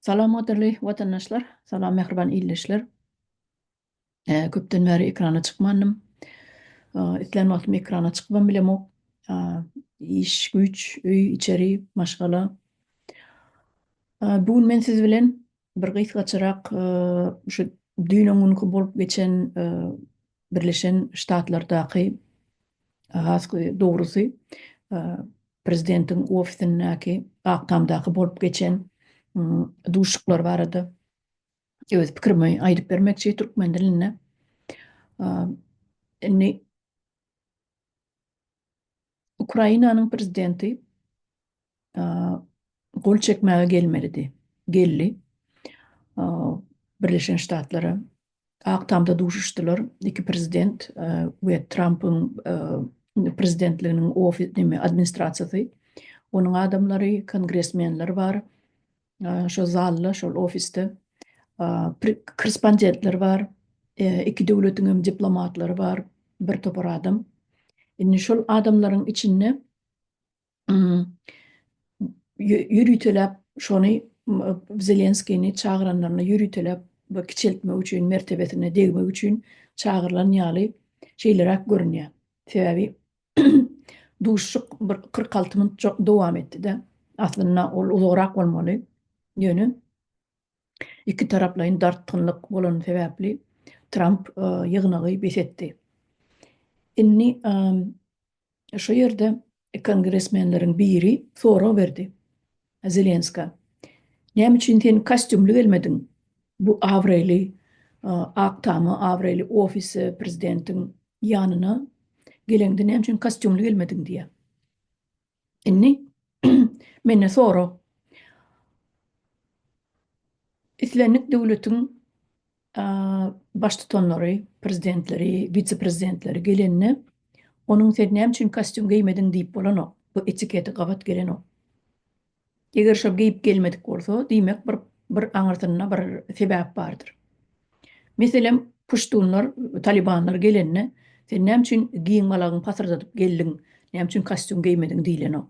Salam gadyrly watandaşlar, salam mähriban ildeşler. Köpden bäri ekrana çykmandym. Islän wagtym ekrana çykybam bilemok. Iş, güýç, öý, içeri, maşgala. Bu gün men siz bilen bir gysgaçarak şu düýn-öňňunky bolup geçen Birleşen Ştatlardaky, has dogrusy, prezidentiň ofisindäki, Ak Tamdaky bolup geçen duşuşyklar barada öz pikirimi aýdyp bermekçi türkmen dilinde. Indi Ukrainanyň prezidenti gol çekmäge gelmelidi. Geldi. Birleşen Ştatlara Ak tamda duşuşdylar. Iki prezident we Trampyň prezidentliginiň administrasiýasy. Onuň adamlary, kongresmenler bar. Şol zalda, şol ofisde korrespondentler bar, iki döwletiň hem diplomatlary bar, bir topar adam. Indi şol adamlaryň içinde ýöriteläp şony Zelenskiýni çagyranlaryna ýöriteläp we kiçeltmek üçin, mertebesine degmek üçin çagyrylan ýaly şeýleräk görünýär. Sebäbi Duşuşyk bir kyrk alty minut dowam etdi-de, aslynda ol uzagrak bolmaly, ýöne ikitaraplaýyn dartgynlyk bolany sebäpli Tramp ýygnagy bes etdi. Indi şo ýerde kongresmenleriň biri sorag berdi, Zelenska, Näme üçin sen kostýumly gelmediň bu abraýly Ak tama, abraýly ofise, prezidentiň ýanyna geleňde näme üçin kostýumly gelmediň diýýä. Indi menden sora. Islendik döwletiň baştutanlary, prezidentleri, wise-prezidentleri gelende, onuň sen näme üçin kostýum geýmediň diýip bolanok. Bu etikete gabat gelenok. Eger şol geýip gelmedik bolsa, diýmek bir bir aňyrsynda bir sebäp bardyr. Meselem, puştunlar, talibanlar gelende, sen näme üçin giň galagyňy pasyrdadyp geldiň, näme üçin kostýum geýmediň diýlenok.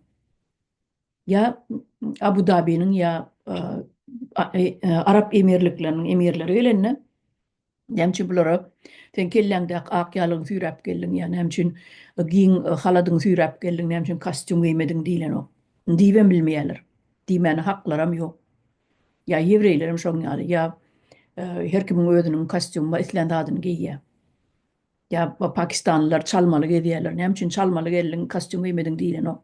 ýa Abu Dabiniň ýa Arap Emirlikleriniň emirleri gelende näme üçin bulara sen kelläňdäki ak ýalygyňy süýräp geldiň ýa näme üçin giň haladyňy süýräp geldiň näme üçin kostýum geýmediň diýlenok. Diýibem bilmeýärler. Diýmäne haklaram ýok. Ýa ýewreýlerem şoň ýaly ýa her kimiň özüniň kostýumy bar islän zadyny geýýär. Ýa bu pakistanlylar çalmaly gezýärler, näme üçin çalmaly geldiň, kostýum geýmediň diýlenok.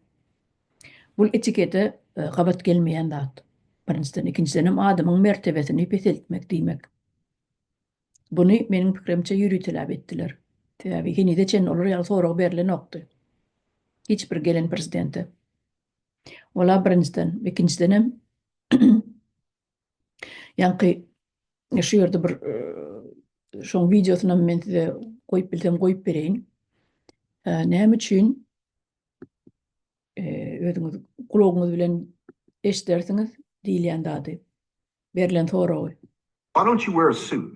Bul etikete gabat gelmeýän zat. Birinjiden, ikinjidenem adamyň mertebesini peseltmek diýmek. Buny meniň pikirimçe ýöriteläp etdiler. Sebäbi henize çenli olar ýaly sorag berlenokdy. Hiç bir gelen prezidente. Ol-a birinjiden, ikinjidenem Ýaňky şu ýerde bir şoň wideosyny hem men size goýup bilsem goýup bereýin. Näme üçin özüňiz gulagyňyz bilen eşidersiňiz diýilýän zady, berlen soragy. Why don't you wear a suit?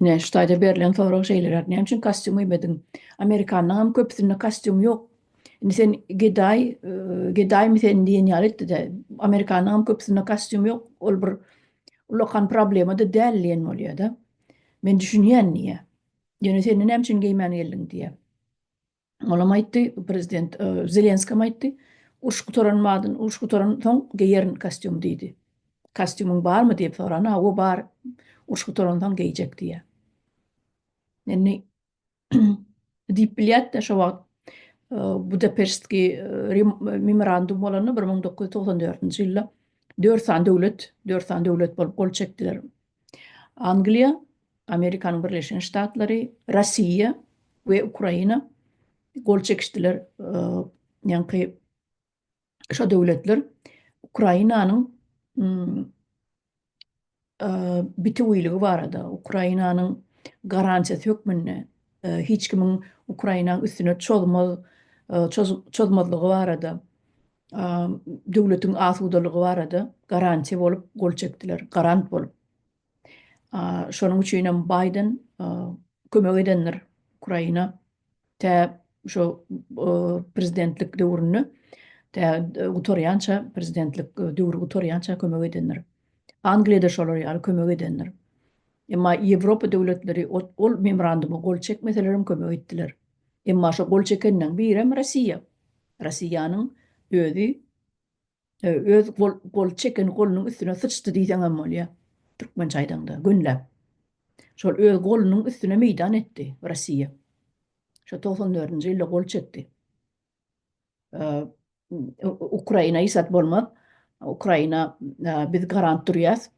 Ine, şu taýda berlen sorag şeýleräk, näme üçin kostýum geýmediň? Amerikanlaryňam köpüsinde kostýum ýok. Indi sen gedaý, gedaýmy sen diýen ýaly etdi-de, amerikanlaryňam köpüsinde kostýum ýok, ol bir ullakan problema-da däl diýen bolýar-da. Men düşünýän diýýär. Ýöne sen-de näme üçin geýmän geldiň diýýär. Olam aýtdy, prezident Zelenskem aýtdy, Uruş gutaran madyn, uruş gutaran soň geýerin kostýum diýdi. Kostýumyň barmy diýip sorana, Hawa bar, uruş gutaran soň geýjek diýýär. Indi diýip bilýärdi-de şo wagt Budapeştki memorandum bolanda bir müň dokuz ýüz togsan dördünji ýylda dört sany döwlet, dört sany döwlet bolup gol çekdiler Angliýa, Amerikanyň Birleşen Ştatlary, Russiýa we Ukraina gol çekişdiler. Ýaňky şo döwletler Ukrainanyň bitewiligi barada, Ukrainanyň garantiýasy hökmünde hiç kimiň Ukrainanyň üstüne çozmaz, çozmazlygy barada döwletiň asudalygy barada garantiýa bolup gol çekdiler, garant bolup. Şonuň üçin hem Baýden kömek edendir Ukraina tä şo prezidentlik döwründe, tä gutarýança, prezidentlik döwri gutarýança kömek edendir. Angliýa-da şolar ýaly kömek edendir. Emma Ýewropa döwletleri ol memoranduma gol çekmeseler hem kömek etdiler. Emma şo gol çekeniň birem Russiýa. Rossiýanyň özi öz gol çeken golunyň üstüne syçdy diýseň hem bolýar, türkmençe aýdaňda, gönläp. Şol öz golunyň üstüne meýdan etdi Rossiýa. Şo togsan dördünji ýylda gol çekdi. Ukraina iýsat bolmaz. Ukraina biz garant durýas.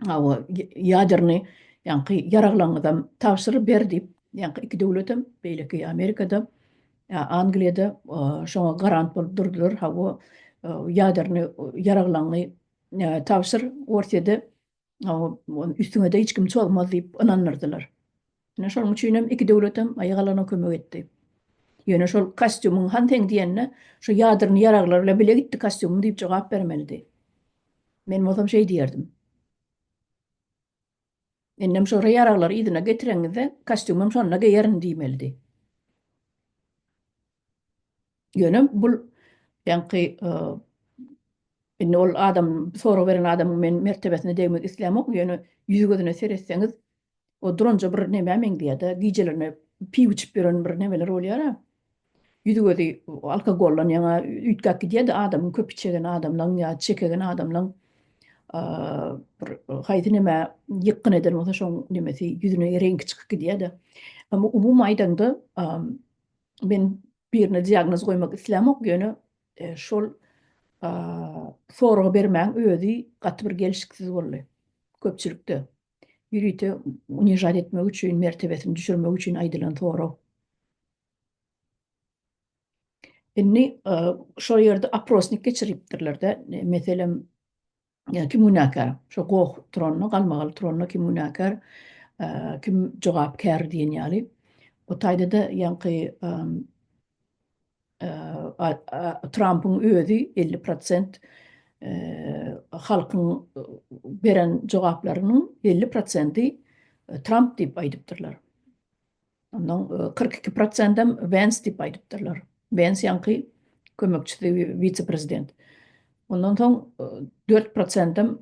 Hawa, ýaderny ýaňky ýaraglaňyzam tabşyr ber diýip, ýaňky iki döwletem, beýleki Amerikada, Angliýada şoňa garant bolup durdular, hawa, ýaderny ýaraglaňy tabşyr, Orsýede, hawa, üstüňede hiç kim çozmaz diýip ynandyrdylar. Ine şonuň üçinem iki döwletem aýygalana kömek etdi. Ýöne şol kostýumyň han seň diýende, şu ýadyrny ýaraglar bilen bile gitdi kostýumyň diýip jogap bermelidi. Men bolsam şeý diýerdim. Indem şora ýaraglary yzyna getireňizde, kostýumym şonda geýerin diýmelidi. Ýöne bul ýaňky indi ol adam sorag beren adamyň men mertebesine degmek islämok, ýöne ýüzi-gözüne seretseňiz, O duranja bir nämä meňzeýär-de, gijelerine piw içip ýören bir nemeler bolýar-a. Ýüzi-gözi alkogollan ýaňa üýtgäp gidýär-de, adamyň köp içegen adamlaň ýa çekegen adamlaň bir haýsy nämä ýykgyn eden bolsa şoň nemesi ýüzüne reňki çykyp gidýär-de. Emma umumy aýdaňda men birine diagnoz goýmak islämok, ýöne şol soragy bermäň özi gaty bir gelşiksiz boldy köpçülikde. ýörite unižat etmek üçin, mertebesini düşürmek üçin aýdylan sorag. Indi şol ýerde oprosnik geçiripdirler-de, meselem, kim günäkär? Şo goh turanyna, galmagal turanyna kim günäkär, kim jogapkär diýen ýaly. O taýda-da ýaňky Trampyň özi elli prosent halkyň beren jogaplarynyň elli prosenti Tramp diýip aýdypdyrlar. Ondan kyrk iki prosentem Wens diýip aýdypdyrlar. Wens ýaňky kömekçisi wise-prezident. Ondan soň dört prosentem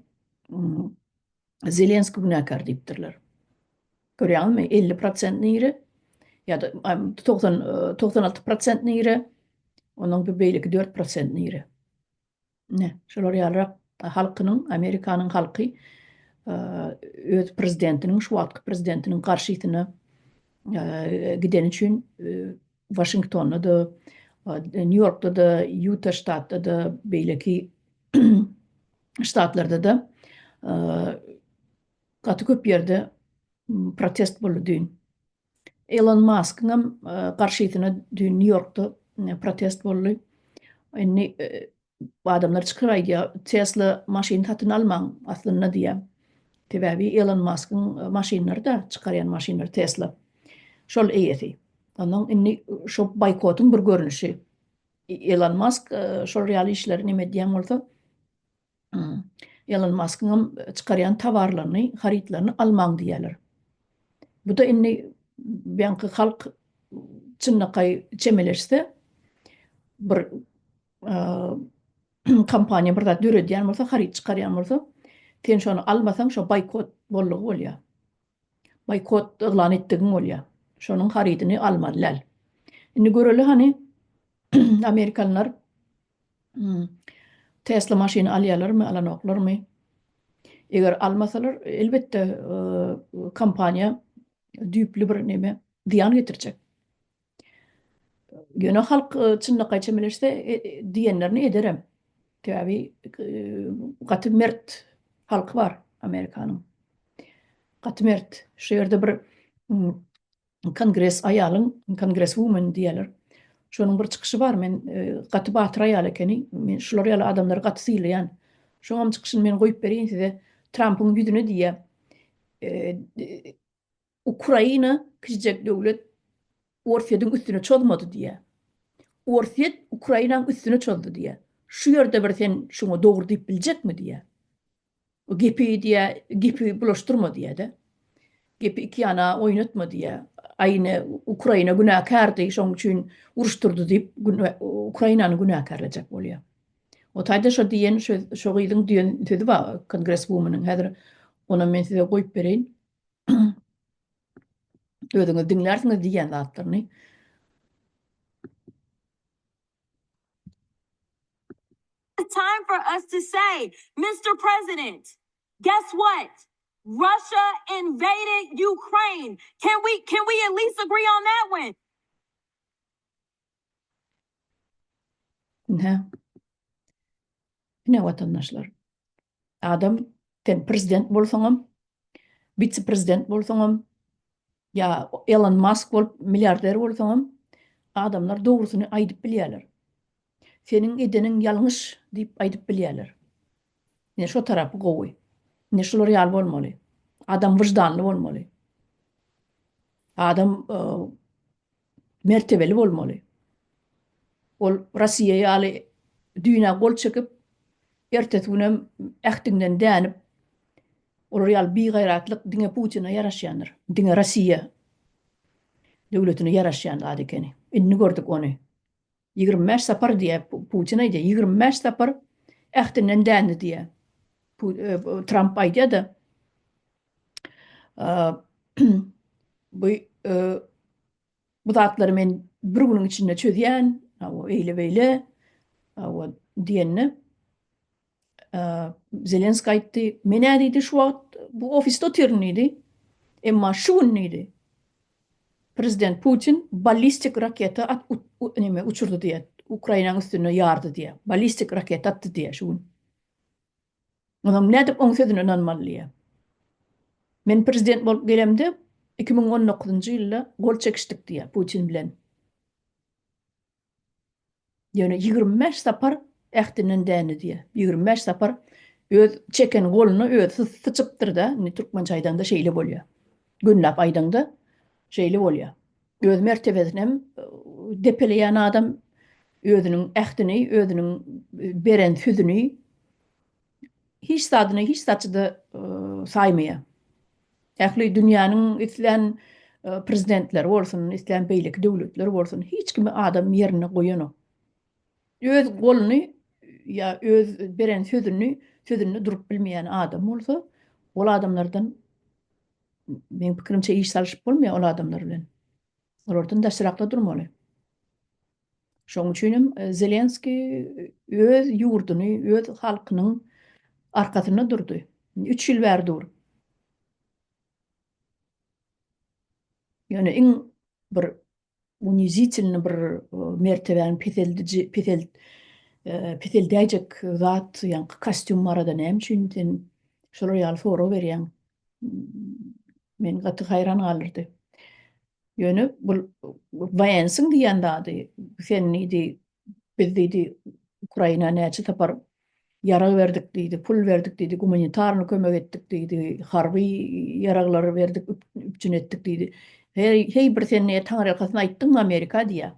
Zelenski günäkär diýipdirler. Görýäňizmi? 50 prosent nire ýa-da 90 96 prosent nire, onuň bir beýleki 4 prosent nire. Ne, şolar ýalyrak halkynyň, Amerikanyň halky öz prezidentiniň, şu wagtky prezidentiniň garşysyna gideni üçin Waşingtonda-da, Nýu-Ýorkda-da, Ýuta ştatda-da, beýleki ştatlarda-da gaty köp ýerde protest boldy düýn. Elon Maskyňam garşysyna düýn Nýu-Ýorkda protest boldy. Indi Adamlar çykyp aýdýa Tesla maşyn satyn almaň aslynda diýä. Sebäbi Elon Maskyň maşynlary da çykarýan maşynlary Tesla. Şol eýesi. Ondan indi şo baýkotyň bir görnüşi. Elon Mask şol ýaly işleri neme edýän bolsa Elon Maskyňam çykarýan tawarlaryny harytlaryny almaň diýýäler. Bu da indi beýanky halk çynlakaý çemeleşse bir kompaniýa bir zat döredýän bolsa, haryt çykarýan bolsa, sen şony almasaň, şo boýkot boldugy bolýar. Boýkot yglan etdigiň bolýar. Şonuň harydyny almaly däl. Indi göreli hany amerikanlar Tesla maşyny alýarlarmy, alanoklarmy? Eger almasalar, elbetde kompaniýa düýpli bir neme, zyýan getirjek. Ýöne halk çynlakaý çemeleşse diýenlerini ederem. Sebäbi gaty mert halky bar Amerikanyň. Gaty mert. Şu ýerde bir kongres aýalyň, kongres woman diýýärler. Şonuň bir çykyşy bar. Men gaty batyr aýal ekeni. Men şular ýaly adamlary gaty sylaýan. Şoňam çykyşyny men goýup bereýin size. Trampyň ýüzüne diýýär. Ukraina kiçijek döwlet Orsýetiň üstüne çozmady diýýär. Orsýet Ukrainaň üstüne çozdy diýýär. Şu ýerde bir sen şuňa dogry diýip biljekmi diýýär. Bu gepi diýýär, gepi bulaşdyrma diýýär-de. Gepi iki ýana oýnatma diýýär. Aý ine Ukraina günäkärdi, şoň üçin uruşdyrdy diýip Ukrainany günäkärlejek bolýar. O taýda şo diýen şo gyzyň diýen sözi bar kongreswumanyň häzir onam men size goýup bereýin. özüňiz diňlärsiňiz diýýän zatlaryny. It's time for us to say, Mr. President, guess what? Russia invaded Ukraine. Can we can we at least agree on that one? Ine. Ine watandaşlar. Adam sen prezident bolsaňam, witse prezident bolsaňam, ýa Elon Musk bolup milliarder bolsaňam, adamlar dogrusyny aýdyp bilýärler. Seniň edeniň ýalňyş diýip aýdyp bilýärler. Ine şo tarapy gowy. Ine şular ýaly bolmaly. Adam wyždanly bolmaly. Adam mertebeli bolmaly. Ol Rossiýa ýaly düýn-ä gol çekip, ertesi günem ähtiňden dänip, olar ýaly bigaýratlyk diňe Putine ýaraşýandyr. Diňe Rossiýa döwletine ýaraşýan zat ekeni. Indi gördük ony. Ýigrimi bäş sapar diýýä, Putin aýdýa, ýigrimi bäş sapar ähtinden dändi diýýä. Tramp aýdýa-da, bu bu zatlary men bir günüň içinde çözýän, hawa, eýle-beýle, hawa, diýende, Zelenskiý aýtdy, Men-ä diýdi, şu wagt bu ofisde otyryn diýdi. Emma şu gün diýdi, prezident Putin ballistik raketa at näme uçurdy diýýär, Ukrainanyň üstüne ýardy diýýär. Ballistik raketa atdy diýýär şu gün. Onam nädip oň sözüne ynanmaly diýýär. Men prezident bolup gelemde iki müň on dokuzynjy ýylda gol çekişdik diýýär Putin bilen. Ýöne ýigrimi bäş sapar ähtinden dändi diýýär. Ýigrimi bäş sapar öz çeken goluna özi syçypdyr-da, indi türkmençe aýdaňda şeýle bolýar. Günläp aýdaňda şeýle bolýar. Öz mertebesini hem depeleýän adam özüniň ähtini, özüniň beren sözüni hiç zadyny hiç zatçyda saýmaýa. Ähli dünýäniň islän prezidentleri bolsun, islän beýleki döwletler bolsun, hiç kimi adam ýerine goýanok. Öz goluny ýa öz beren sözüni, sözünde durup bilmeýän adam bolsa, ol adamlardan meň pikirimçe iş salyşyp bolmaýar ol adamlar bilen. Olardan daşrakda durmaly. Şonuň üçin hem Zelenskiý öz ýurduny, öz halkynyň arkasynda durdy. Üç ýyl bäri dur. Ýöne iň bir unizitilny bir mertebäni peseldiji, pesel, peseldäýjek zat, ýaňky kostýum barada näme üçin sen şolar ýaly sorag berýäň? Meni gaty haýran galdyrdy. Ýöne bul Wensiň diýen zady sen diýdi, biz diýdi Ukraina näçe sapar ýarag berdik diýdi, pul berdik diýdi, gumanitarny kömek etdik diýdi, harby ýaraglary berdik, üpjün etdik diýdi. Heý, heý bir sen näet taňryýalkasyny aýtdyňmy Amerika diýýä.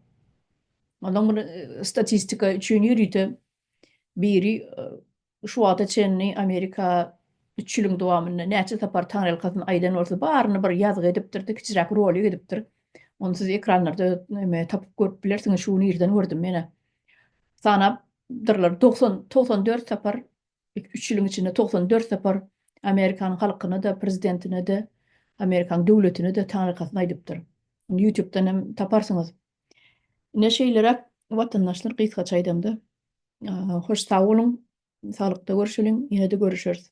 Ondan bir statistika üçin ýörite biri Şu wagta çenli Amerika üç ýylyň dowamynda näçe sapar taňryýalkasyn aýdan bolsa, baryny bir ýazgy edipdir-de, kiçiräk rolik edipdir. Ony siz ekranlarda näme tapyp görüp bilersiňiz, şu gün irden gördüm menä. Sanap dyrlar, togsan, togsan dört sapar, üç ýylyň içinde togsan dört sapar Amerikanyň halkyna-da, prezidentine-de, Amerikanyň döwletine-de taňryýalkasyn aýdypdyr. Ýutubdan hem taparsyňyz. Ine şeýleräk watandaşlar gysgaça aýdamda. Hoş sag boluň. Saglykda görşeliň. Ýene-de görüşeris.